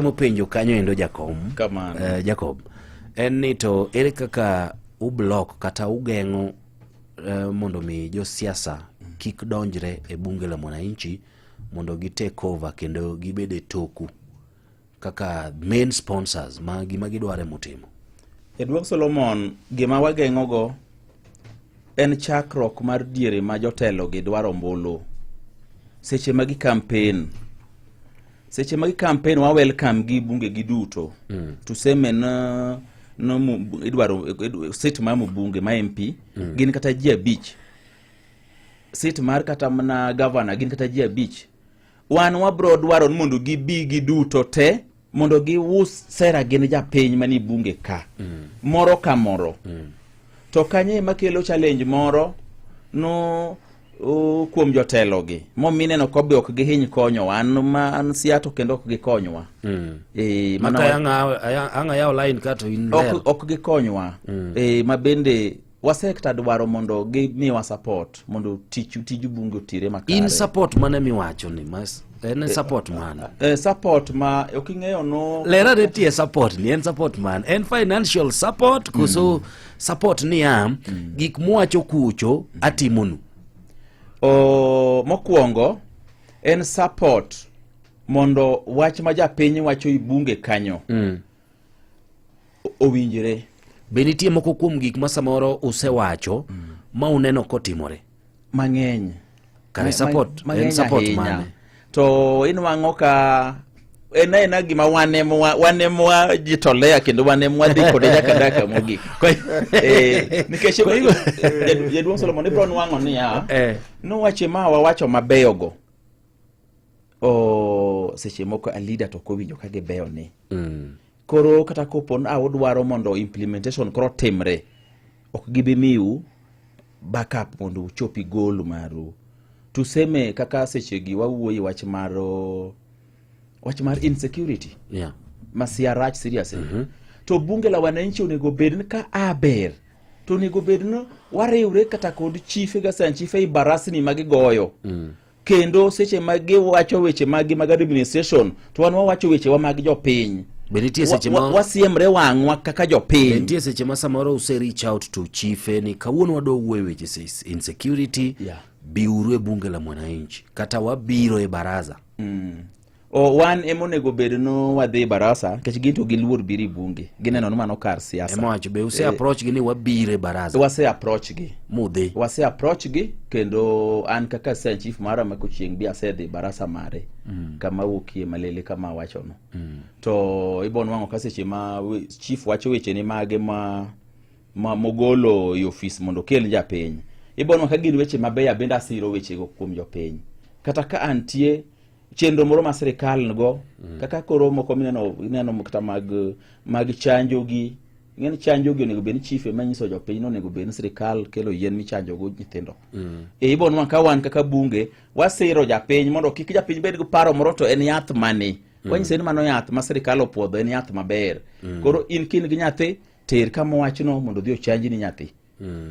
mopenjo kanyo endo jakom kamano uh, jacob en ni to ere kaka ublok kata ugeng'o uh, mondo mi josiasa kik donjre e bunge la mwananchi mondo gi take over kendo gibed e toku kaka main sponsors ma gima gidware mutimo jaduong solomon gima wageng'ogo en chakruok mar diere ma jotelo gi dwaro mbulu seche ma gi kampen seche ma gi campaign wa welcome gi bunge gi duto mm. tuseme na no idwaro sit ma mbunge ma MP mm. gin kata ji abich sit mar kata mana governor gin kata ji abich wan wabro dwaro ni mondo gibi gi duto te mondo gius sera gin japiny mani bunge ka mm. moro ka moro mm. to kanye makelo challenge moro no kuom jotelogi momineno ko be ok gihiny konyowa an ma an siato kendo ok gikonywa mm. e, ang'ayawo lain kato in ok, ok gikonywa mm. e, ma bende wasekta dwaro mondo gimiwa support mondo tich tij bunge otire makare in support mane miwacho ni mas en eh, support man eh, eh, support ma ok ing'eyo no lera ne tie support ni en support man en financial support koso mm. support niya mm. gik muwacho kucho atimonu o, mokwongo en support mondo wach ma japiny wacho i bunge kanyo mm. owinjre be nitie moko kuom gik ma samoro usewacho mm. ma uneno kotimore mang'eny kare support en support mane to inwang'o ka en aena gima wan em wajitolea kendo wan em wadhi kode nyaka daka mogik eh, nikech jaduong' solomon ibro nwang'o niya eh. nowache ma wawacho mabeyogo o seche moko a leader to kowinjo ka gibeyo ni mm. koro kata kopo ni udwaro mondo implementation koro timre ok gibi miu backup mondo uchopi goal maru tuseme kaka sechegi wawuoye wach mar wach mar insecurity yeah. masia rach seriously mm -hmm. to bunge la wananchi onego bed ni ka aber to onego bed ni wariwre kata kod chife gasan chife i barasni ma gigoyo mm. kendo seche ma giwacho weche maggi mag administration to wan wawacho wechewa mag jopiny Be nitie seche ma wasiemre wang'wa kaka jopiny. Be nitie seche ma samoro use reach out to chief ni kawuono wadwa wuoyo weche insecurity yeah. biuru e bunge la mwananchi kata wabiro e baraza mm. O, wan ema onego obed no wadhi barasa nikech gin to giluor biro e bunge gineno ni mano kar siasa ema wacho be use eh, approach gi ni wabire barasa wase approach gi mudhi wase approach gi kendo an kaka sen chief mara ma kochieng bi asedhi barasa mare mm. kama wuokie malele kama wacho no mm. to ibon wango ka seche ma chief wacho weche ni mage ma ma mogolo e ofis mondo okel japiny ibon wango ka gin weche mabeyo bende asiro wechego kuom jopiny kata ka antie chenro moro ma sirikal nigo mm. kaka koro moko mineno ineno kata mag mag chanjo gi ng'en chanjo gi onego bed ni chief ema nyiso jopiny ni onego bed ni sirikal kelo yien michanjo go nyithindo mm. e ibo nwa ka wan kaka bunge wasiro japiny mondo kik japiny bed gi paro moro to en yath mani mm. wanyise ni mano yath ma sirikal opuodho en yath maber mm. koro in kin gi nyathi ter kama wachno mondo odhi ochanji ni nyathi mm.